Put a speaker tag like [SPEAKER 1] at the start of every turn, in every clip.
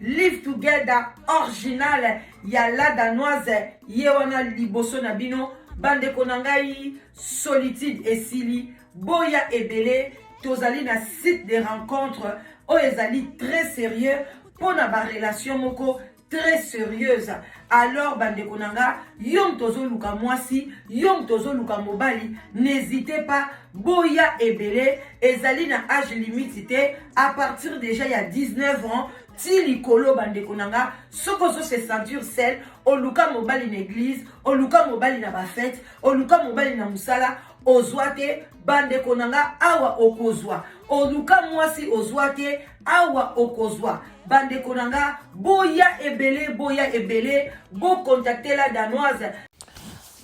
[SPEAKER 1] Live Together original ya la danoise ye wana liboso na bino bandeko na ngai solitude esili boya ebele tozali na site de rencontre oyo ezali très sérieux mpo na barelation moko très sérieuse alors bandeko na nga yo moto ozoluka mwasi yo moto ozoluka mobali n'hésite pas boya ebele ezali na age limite te à partir déjà ya 19 ans ti likolo bandeko na nga soki ozose ceinture sel oluka mobali na église oluka mobali na bafete oluka mobali na mosala ozwa te bandeko na nga awa okozwa oluka mwasi ozwa te awa okozwa bandeko na nga boya ebele boya ebele bokontaktela danoise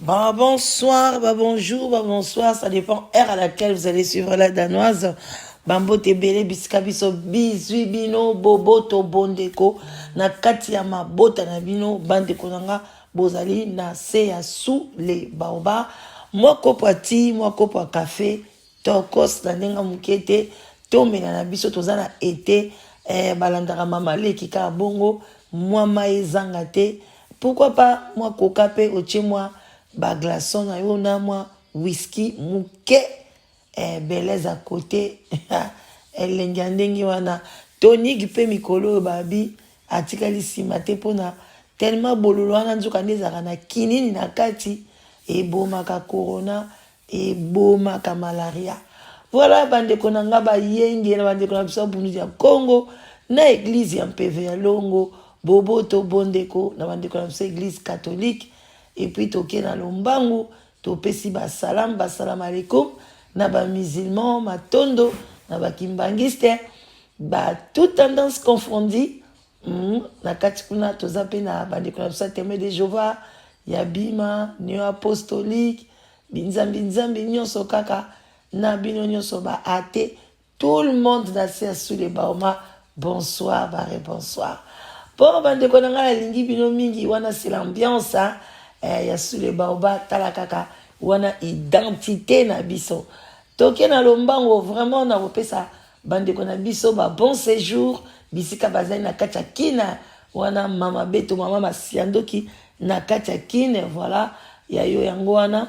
[SPEAKER 1] Bon,
[SPEAKER 2] bonsoir, bah, bonjour, bah, bonsoir. Ça dépend heure à laquelle vous allez suivre la danoise. Bambo te bele bisika biso bizui bino boboto bondeko na kati ya mabota na bino bandeko na nga bozali na se ya sous le baoba mwa kopo ya ti mwa kopo ya kafe Tokos na ndenge moke te tomela na biso toza na ete eh, balandaka mama leki kaka bongo mwa mai ezanga te pourquoi pas mwa koka mpe otie mwa baglason na yo na mwa whisky moke eh, belez a kote elengi ya ndenge wana tonigi mpe mikolo oyo babi atikali nsima te mpona tellement bololo wana nzoka nde ezalaka na kinini na kati ebomaka corona Ebomaka malaria. Voilà bandeko na nga bayenge na bandeko na biso ya bundu ya Congo na eglise ya mpeve ya longo boboto bondeko na bandeko na biso eglise catholique epuis toke na lombangu topesi basalam basalam alekum na bamusulman matondo na bakimbangiste ba tout tendance confondi Hum, na kati kuna toza mpe na bandeko na biso ya Témoin de Jehovah ya Bima, Neo Apostolique, binzambi nzambi nyonso kaka na bino nyonso ba ate tout le monde na se ya sous le baoma bonsoir bare bonsoir mpo bandeko na ngai nalingi bino mingi wana c'est l'ambiance hein? eh, ya sous le baoba tala kaka wana identité na biso toke na lombango vraiment nakopesa Bandeko na biso ba bon sejour bisika bazali na kati ya kina wana mama beto mama masiandoki na kati ya kine voilà ya yo yango wana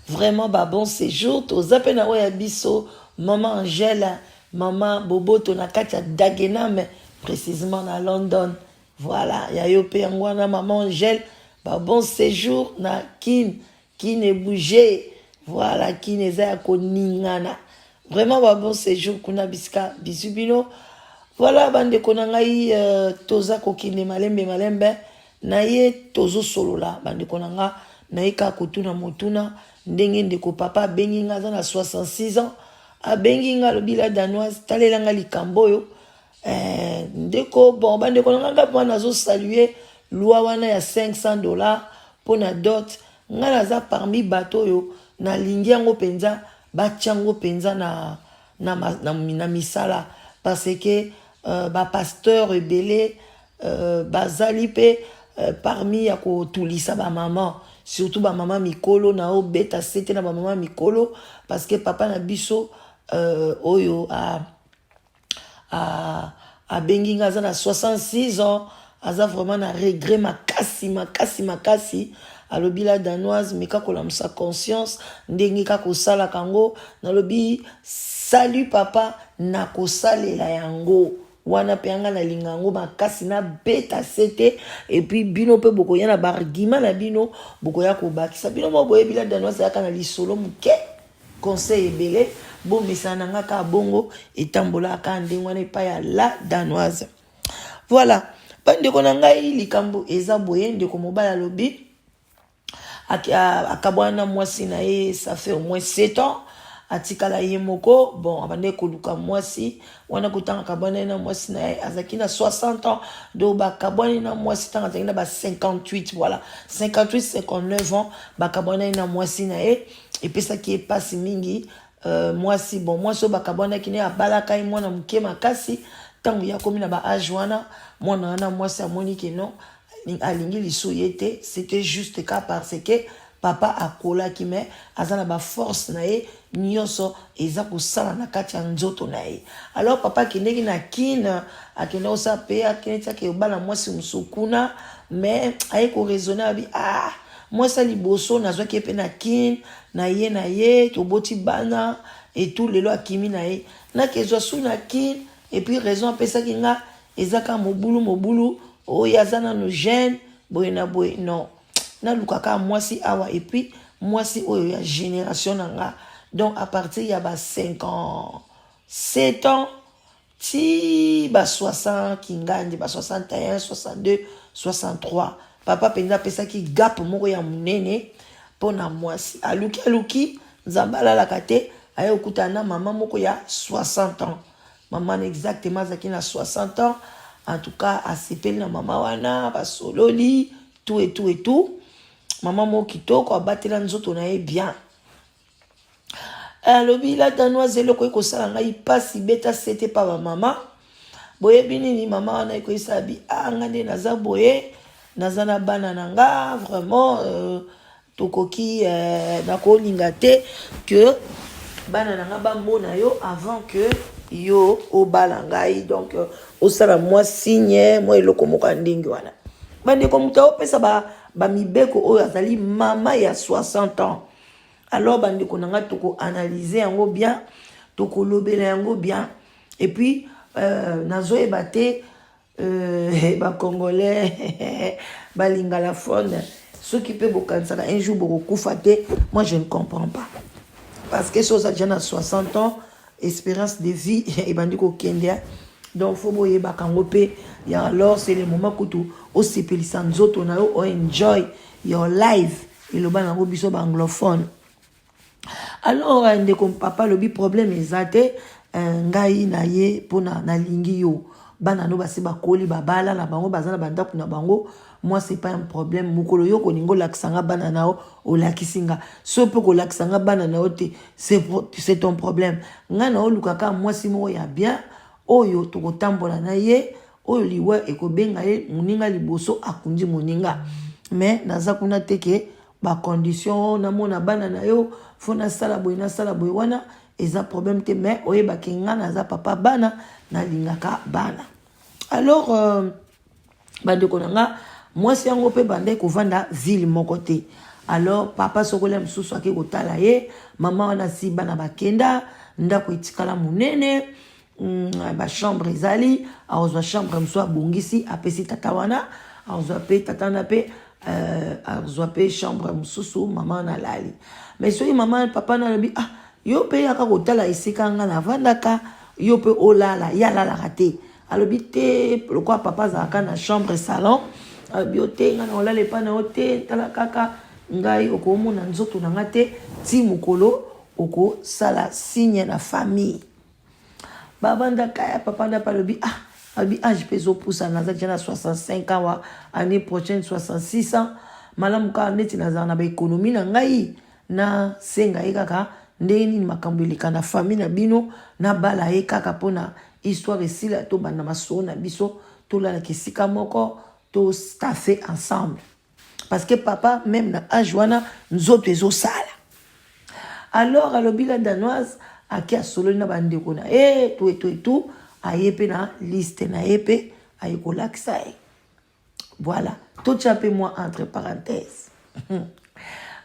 [SPEAKER 2] vraiment ba bon séjour toza mpe na oyo ya biso mama angela mama boboto na kati ya dagename précisement na london voilà ya yo mpe yango wana mama angele ba bon séjour na kin qui ne bouger voilà qui ne eza ya koningana vraiment ba bon séjour kuna bisika bisu bino voilà bandeko na ngai euh, toza kokende malembe malembe na ye tozosolola bandeko na nga naye kaka kotuna motuna ndenge ndeko papa abengi nga aza na 66 ans abengi nga alobi la danoise talela nga likambo oyo Eh, ndeko bon bandeko na ngai mpo wana azosalue lwa wana ya 500 dollars mpo na dot ngai naza parmi bato oyo nalingi yango mpenza batya yango mpenza na, na, na, na misala parce que uh, bapasteur ebele uh, bazali mpe uh, parmi ya kotulisa bamama surtout bamama mikolo na oyo beta sete na bamama mikolo parce que papa na biso uh, oyo uh, ah, abengi nga aza na 66 ans aza vraiment na regret makasi makasi makasi alobi la danoise meka kolamusa conscience ndenge kaka osalaka yango nalobi salut papa nakosalela yango wana mpe yanga nalinga yango makasi nabeta se te epuis bino mpe bokoya na baargument na bino bokoya kobakisa bino moko boyebi la danoise ayaka na lisolo moke conseil ebele bo mesana na nga kaka bongo etambola kaka ndenge wana epai ya la danoise voilà bandeko na ngai likambo eza boye ndeko mobali alobi akabwana na mwasi na ye ça fait au moins 7 ans atikala ye moko bon abandaki koluka mwasi wana kotanga akabwanani na mwasi na ye azalaki na 60 ans donc bakabwani na mwasi ntango azalaki na ba 58 voilà 58 59 ans bakabwanani na mwasi na ye epesaki ye mpasi mingi uh, mwasi bon mwasi oyo bakabwanaki ne abalaka ye mwana moke makasi ntango ye akomi na ba age wana mwana wana mwasi amoni ke non alingi lisu ye te c'était juste ka parce que papa akolaki me aza na baforce na ye nyonso eza kosala na kati ya nzoto na ye alors papa akendeki na kine akenda kosala mpe akendeki ake obala mwasi mosusu kuna me aye koraisonne abi ah Mwasi ya liboso nazwaki ye mpe na kin na ye na ye toboti bana etu lelo akimi na ye nake ezwa su na kin epuis raison apesaki nga eza kaka mobulu mobulu oyo oh, aza nano jeune boye na boye non naluka kaka mwasi awa epuis mwasi oyo ya generation na nga donc à partir ya ba 57 ans ti ba 60 kingandi ba 61 62 63 papa mpenza apesaki gap moko ya monene mpo na mwasi aluki aluki nzambe alalaka te aye kokutana na mama moko ya 60 ans mama na exactement azalaki na 60 ans en tout cas asepeli na mama wana basololi tout et tout et tout mama moko kitoko abatela nzoto na ye bien alobi la danoise eloko ekosala ngai mpasi beta sete pa bamama boyebi nini mama wana ekoyisa bi a ah, nga nde naza boye naza na bana na nga vraiment euh, tokoki euh, nakolinga te que bana na nga bamona yo avant que yo obala ngai donc euh, osala mwa signe mwa eloko moko ya ndenge wana bandeko moto aopesa bamibeko ba oyo azali mama ya 60 ans alors bandeko na ngai tokoanalyze yango bien tokolobela yango bien et puis euh, nazoyeba te euh, bacongolais balingalafone soki mpe bokanisaka un jour bokokufa te moi je ne comprends pas parce que soza deja na 60 ans espérance de vie ebandi kokende donc fo boyebaka yango mpe ya alors c'est le moment kutu osepelisa nzoto na yo o enjoy your life eloba na yango biso ba anglophone alors euh, ndeko papa alobi problème eza te euh, ngai na ye mpona nalingi yo bana no basi bakoli babala na bango baza na bandako na bango moi c'est pas un problème mokolo yo kolinga olakisa nga bana na yo olakisi nga so mpe kolakisa nga bana na yo te c'est ton problème ngai na olukaka mwasi moko ya bien oyo tokotambola na ye oyo liwa ekobenga ye moninga liboso akundi moninga me naza kuna te ke bacondition oh, namona bana na yo fo nasala boye nasala boye wana eza problème te me oyebake nga naza papa bana nalingaka bana alors euh, bandeko na nga mwasi yango mpe bandai kovanda ville moko te alors papa sokolia mosusu ake kotala ye mama wana si bana bakenda ndako etikala monene Mm, ba chambre ezali akozwa chambre mosusu abongisi apesi tata wana akozwa mpe tata wana mpe euh, akozwa mpe chambre mosusu mama wana alali mais soki mama papa wana alobi ah yo mpe yaka kotala esika nga navandaka yo mpe olala ye alalaka te alobi te lokola papa azalaka na chambre salon alobi yo te nga na olala epai na yo te tala kaka ngai okomona nzoto na nga te ti mokolo okosala signe na famille Ba vanda ka ya papa na palobi ah alobi age mpe ezopusana naza deja na 65 ans wa année prochaine 66 ans malamu kaka neti nazala na baekonomi na ngai nasenga ye kaka ndenge nini makambo eleka na famille na bino nabala ye kaka mpo na histoire esila tobanda masolo na biso tolalaka esika moko tostafe ensemble parce que papa meme na age wana nzoto ezosala alors alobi la danoise ake asololi na bandeko na ye to eto etu aye mpe na liste na ye mpe aye kolakisa ye voilà totya mpe mwa entre parenthèse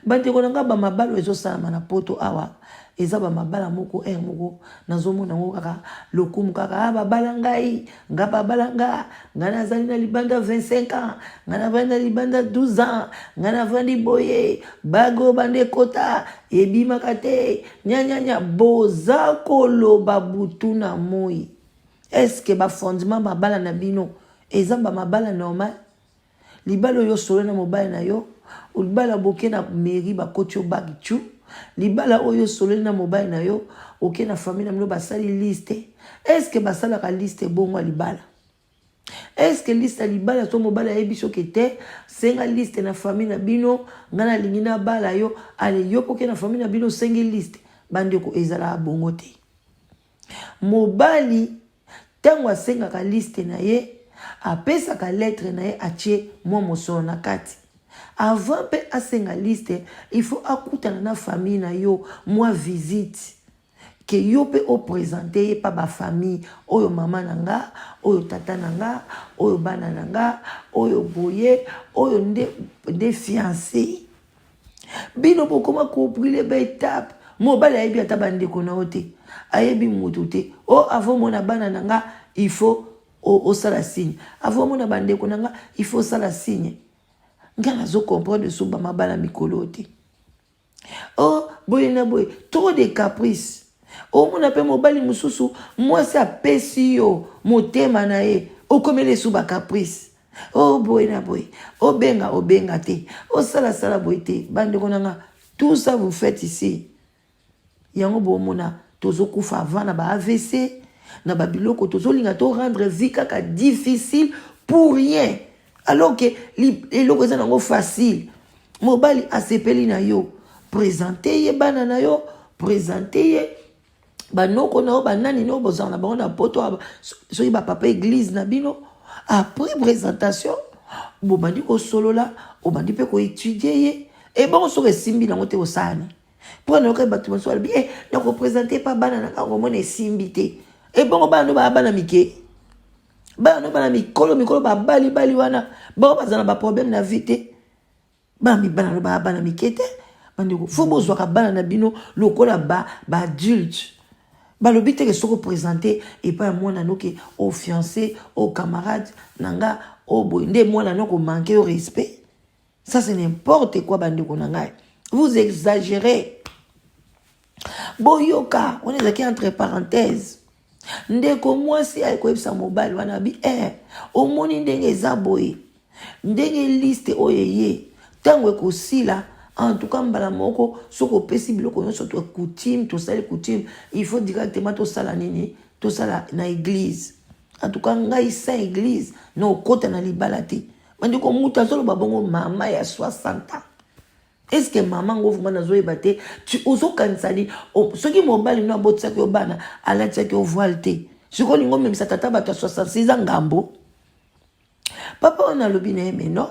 [SPEAKER 2] bandeko na ngai bamabalo ezosalama na poto awa eza bamabala moko heure moko nazomona yango kaka lokumu kaka ah, babala ngai nga babala nga nga nazali na libanda 25 ans nga navandi na libanda 12 ans nga navandi boye bage oyo banda ekota ebimaka te nyanyanya boza koloba butu na moi eske bafondement mabala na bino eza bamabala normal Libala oyo osololi na mobali na yo, libala boke na mairie bakoti yo bagi tchu. Libala oyo osololi na mobali na yo, oke na famille na bino basali liste. Est-ce que basalaka liste bongo ya libala? Est-ce que liste ya libala to mobali ayebi soki te senga liste na famille na bino, ngai nalingi nabala yo, ale yo mpe oke na famille na bino osengi liste. Bandeko ezalaka bongo te. Mobali tango asengaka liste na ye apesaka lettre na ye atie mwa mosolo na kati avant mpe asenga liste il faut akutana na famille na yo mwa visite ke yo mpe opresente ye mpa bafamille oyo mama na nga oyo tata na nga oyo bana na nga oyo boye oyo nde nde fiance bino bokoma kobrule baetape mobali ayebi ata bandeko na yo te ayebi moto te o oh, avo omona bana na nga il faut osala signe avo omona bandeko na nga il faut osala signe nga nazo comprendre suba mabala mikolo te o oh, boye na boye trop de caprice omona mpe mobali mosusu mwasi apesi yo motema na ye okomeli esu bacaprice o boye na boye obenga obenga te osalasala boye te bandeko na nga tout ça vous faites ici yango bomona tozokufa avant na ba avc na babiloko tozolinga to rendre vie kaka difficile pour rien alors ke eloko eza nango facile mobali asepeli na yo présente ye bana na yo présente ye banoko na yo banani no bozala na bango na poto soki bapapa eglize na bino après présentation bobandi kosolola obandi mpe koetudie ye ebongo soki esimbi nango te osani mpo nayokai bato mosusu alobi e eh, nakopresente mpa bana na ngai komona esimbi te ebongo bana no baa bana mike bana no bana mikolo mikolo babalibali wana bango bazala na baproblème na vie te bana mibala alobaka bana mike te bandeko fo bozwaka bana na bino lokola baadulte ba balobi teke soki opresente epai ya mwana no ke o fiance o camarade na nga o boye nde mwana no komanke yo respect ça c'est n'importe quoi bandeko na ngai vous exagérez boyoka wana ezalaki entre parenthèse ndeko mwasi aye koyebisa mobali wana abi eh, omoni ndenge eza boye ndenge liste oyo eye ntango ekosila en tout cas mbala moko soki opesi biloko nyonso to coutume tosali coutume il faut directement tosala nini tosala na église en tout cas ngai saint église na okota na libala te bandeko moto azoloba bongo mama ya 60 ans Est-ce que maman ngo vraiment nazo yeba te tu ozo kanisa ni soki mobali no abotisaki yo bana alatisaki yo voile te sikoyo lingo omemisa tata bato ya 66 ans ngambo papa wana alobi na ye me non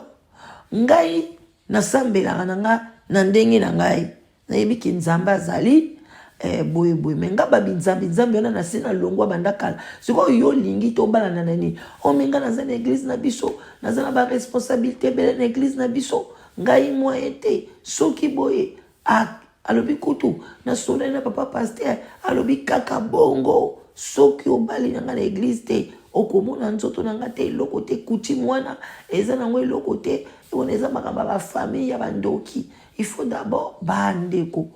[SPEAKER 2] ngai nasambelaka na nga na ndenge na ngai nayebi ke nzambe azali eh, boye boye me nga babinzambi nzambe wana nase na longwa banda kala sikoyo yo olingi tobalana na nini omenga oh, naza na eglize na biso naza na baresponsabilité ebele na eglize na biso ngai moyen te soki boye alobi kutu nasolani na papa paster alobi kaka bongo soki obali na ngai na eglize te okomona nzoto na ngai te eloko te kutime wana eza nango eloko te wana eza makambo ya bafamille ya bandoki il faut d'abord bandeko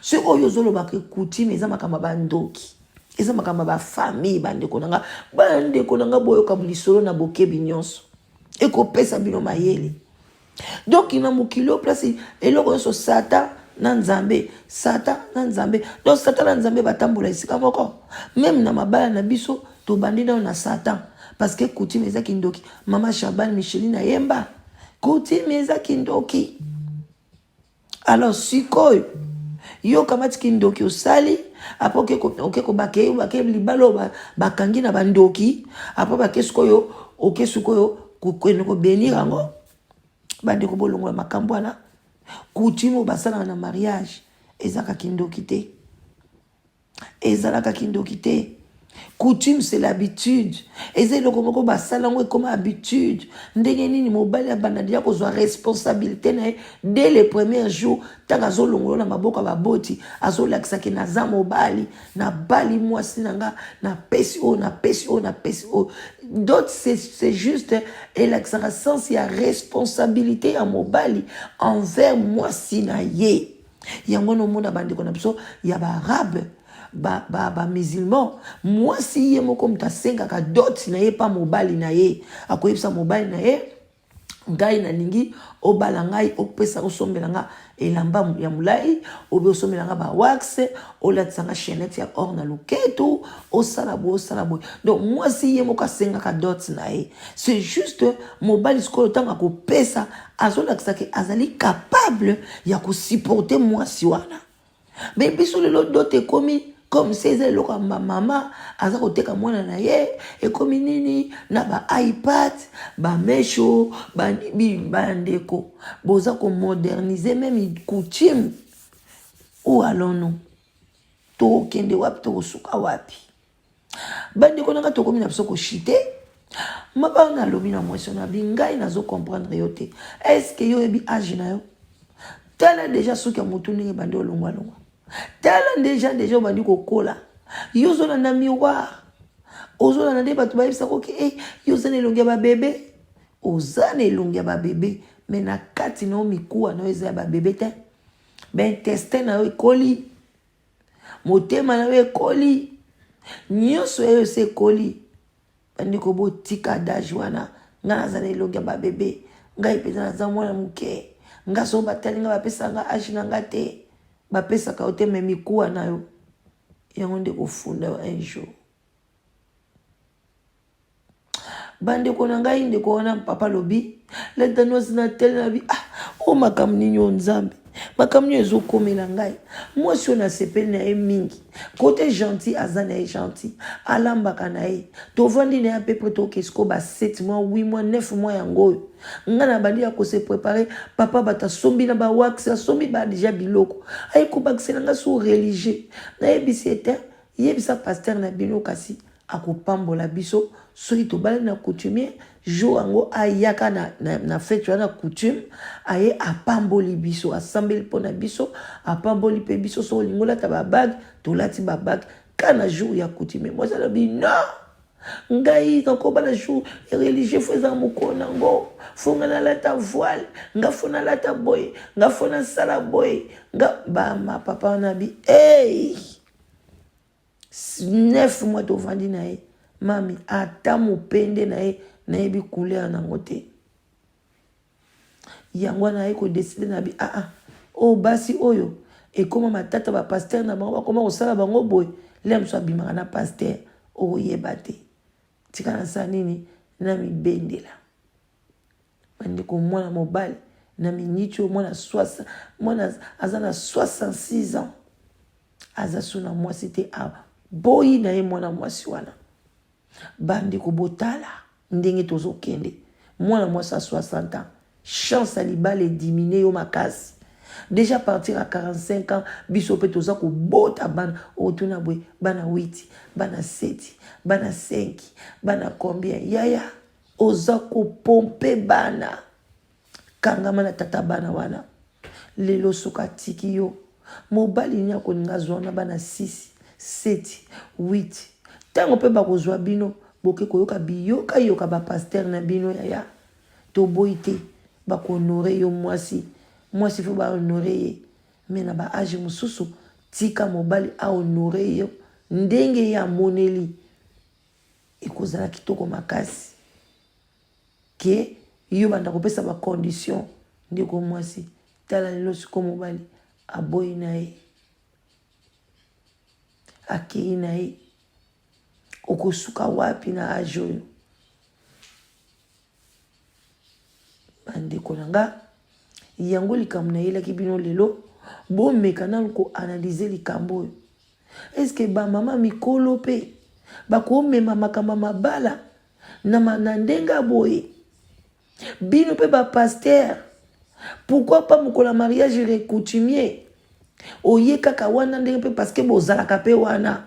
[SPEAKER 2] se oyo ozolobaka kutime eza makambo ya bandoki eza makambo ya bafamille bandeko na ngai bandeko na ngai boyoka lisolo na bokebi nyonso ekopesa bino mayele donc na mokili oyo place eloko nyonso satan na nzambe satan na nzambe donc satan na nzambe batambola esika moko meme na mabala na biso tobandi nao na satan parce que coutume eza kindoki mama shabane micheline ayemba coutume eza kindoki alors sikoyo yo okamati kindoki osali apo oke kobake obake libala oyo bakangi na bandoki apo bake sikoyo oke sikoyo kokende kobenir yango bandeko bolongola makambo wana coutume oyo basalaka na mariage ezaka kindoki te ezalaka kindoki te coutume c'est l'habitude eza eloko moko basala yango ekoma habitude ndenge nini mobali abanda deja kozwa responsabilité na ye dès le premier jour ntango azolongolo na maboko ya baboti azolakisaki naza mobali nabali mwasi na nga napesi oyo napesi oyo napesi oyo dot c'est juste elakisaka sense ya responsabilité ya mobali envers mwasi na ye yango wana omona bandeko na biso ya baarabe bamusulman ba, ba mwasi ye moko moto asengaka doti na ye mpa mobali na ye akoyebisa mobali na ye ngai nalingi obala ngai opesa osombela nga elamba ya molai obe osombela nga bawax olatisa nga chainete ya or na loketu osala boye osala boye donc mwasi ye moko asengaka dot na ye c'est juste mobali sikoyo ntango akopesa azolakisa ke azali capable ya kosupporte mwasi wana me biso lelo dote ekomi comme se eza eloko ya mama aza koteka mwana na ye ekomi nini na ba ipad bamesho bandeko boza komodernise meme coutume ou alonu tokokende wapi tokosuka wapi bandeko na ngai tokomi na biso koshite mabaa nalobi na mwasi wana abi ngai nazo comprendre yo te estce yo oyebi age na yo tala deja suki ya motu ndenge ebandi olongwalongwa tala deja deja obandi kokola yo ozolanda miroir ozolanda nde bato bayebisa koki e eh, yo oza na elongi ya babebe oza na elongi ya babebe me na kati na yo mikuwa na yo eza ya babebe te baintestin na yo ekoli motema na yo ekoli nyonso ya yo esi ekoli bandeko botika dage wana ngai naza na elongi ya babebe ngai mpenza naza mwana moke ngai soko batali ngai bapesa ngai age na ngai te bapesaka yo te me mikuwa na yo yango nde kofunda yo un jour bandeko na ngai ndeko wana papa lobi lentanosi na tele na bi ah o oh, makambo nini oyo nzambe makambo nini ezokomela ngai mwasi oyo nasepeli na ye mingi kote gentil aza na ye gentil alambaka na ye tovandi na ye ape pre tokesiko ba 7 mois 8 mois 9 mois yango oyo ngai nabandi ya kose prepare papa bato asombi na bawax asombi ba deja biloko aye kobakisela ngai so religieux nayebisi ete yebisa paster na bino kasi akopambola biso soki tobalani na coutumier jour yango ayaka na, na, na fete wana coutume aye apamboli biso asambeli mpo na biso apamboli mpe biso soki olingi olata babage tolati babage ka na jour ya coutumier mwasi alobi non ngai nakoba na jour religieux fo eza mokolo na yango fo ngai nalata voile nga fo nalata boye nga fo nasala boye nga bama papa wana bi hey! 9 mois tovandi na ye mami ata mopende na ye nayebi couleur nango te yango wana aye kodeside na bi aa ah, ah, oyo oh, basi oyo ekoma matata bapastere na bango bakoma kosala bango boye lea mosusu abimaka na pastere okoyeba te tika nasala nini namibendela bandeko mwana mobali na miniti oyo mwana swasa mwana aza na 66 ans aza so na mwasi te aboyi na ye mwana mwasi wana bandeko botala ndenge tozokende mwana mwasi ya 60 ans chance ya libala edimine yo makasi déjà partir ya 45 ans biso mpe toza kobota bana otuna boye bana 8 bana 7 bana 5 bana combien yaya oza kopompe bana kangama na tata bana wana lelo soki atiki yo mobali nini akolinga azwa na bana 6 7 8 ntango mpe bakozwa bino boke koyoka biyokayoka bapaster na bino yaya toboyi te bakohonore yo mwasi mwasi fo bahonore ye me na baage mosusu tika mobali ahonore yo ndenge ye amoneli ekozala kitoko makasi ke yo banda kopesa bacondition ndeko mwasi tala lelo siko mobali aboyi na ye akei na ye okosuka wapi na age oyo bandeko na nga yango likambo nayelaki bino lelo bomeka nanu koanalyze likambo oyo eske bamama mikolo mpe bakomema makambo mabala na, na ndenge boye bino mpe bapastere pourkui pa mokolo ya mariage recoutumier Oye kaka wana ndenge mpe parce que bozalaka mpe wana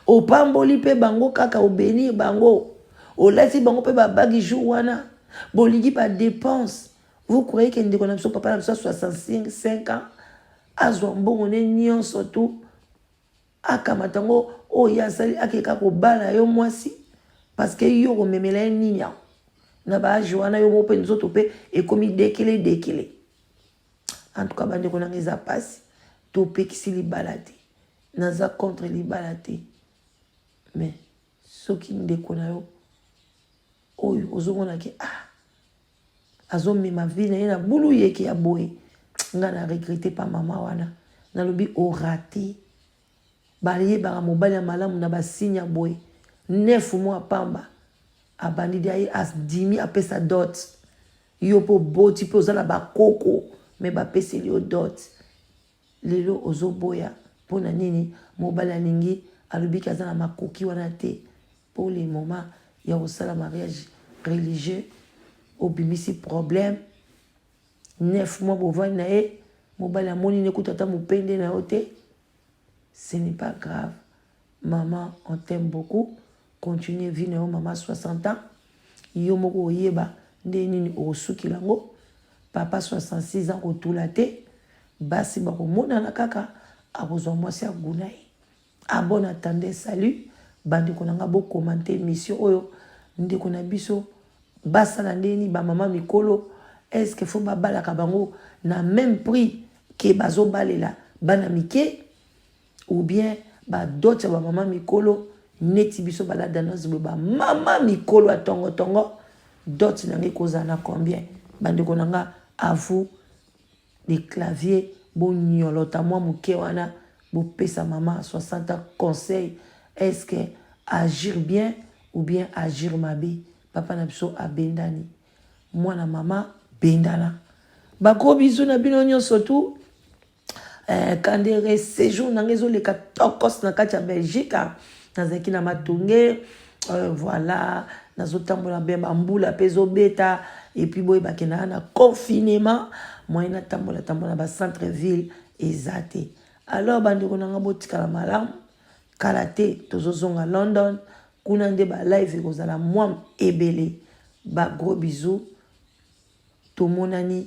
[SPEAKER 2] opamboli mpe bango kaka obenir bango olati bango mpe babagi jour wana bolingi badepense vous croyez ke ndeko na biso papa na biso ya 65 ans azwa mbongo ne nyonso tu akamata yango oyo ye asali akeka kobala yo mwasi parce que yo okomemela ye nini yango na baage wana yo moko mpe nzoto mpe ekomi dekele dekele en tout cas bandeko nanga eza mpasi topekisi libala te naza contre libala te mais soki ndeko na yo oyo ozomona ke ah azomema vie na ye na bulu yeke ya boye ngai na regrete pa mama wana nalobi orate bayebaka mobali ya malamu na basigne ya boye nefu mwa pamba abandi dia ye adimi apesa dote Yo pe oboti pe oza na ba koko mais ba peseli yo dot. Lelo ozo boya pona nini mobali alingi alobi ke aza na makoki wana te pour le moment ya kosala mariage religieux obimisi problème neuf mois bovandi na ye mobali amoni nde kutu ata mopende na yo te ce n'est pas grave Maman on t'aime beaucoup continue vie na yo maman 60 ans yo moko oyeba nde nini okosukela yango papa 66 ans kotula te basi bakomonana kaka akozwa mwasi ya guna ye abon ah, atande salut bandeko na ngai bokomante émission oyo ndeko na biso basala ndenge nini bamama mikolo estce fo babalaka bango na même prix ke bazobalela bana mike ou bien ba dot ya ba mama mikolo neti biso bala danose boye ba mama mikolo ya tongo tongo dot na ngai kozala na combien bandeko na nga à vous les claviers bonyolota mwa moke wana bopesa mama 60 ans conseil est ce que agir bien ou bien agir mabe papa na biso abendani mwana mama bendana bagros bizu na bino nyonso tu Eh, kandere séjour nanga ezoleka tokos na kati ya belgique ah. nazalaki na matonge euh, voilà nazotambola bien bambula mpe ezobeta epuis boye bakendaka na confinement moyen natambola tambola na bacentre ville eza te alors bandeko na ngai botikala malamu kala te tozozonga london kuna nde balive ekozala mwa ebele bagros bisou tomonani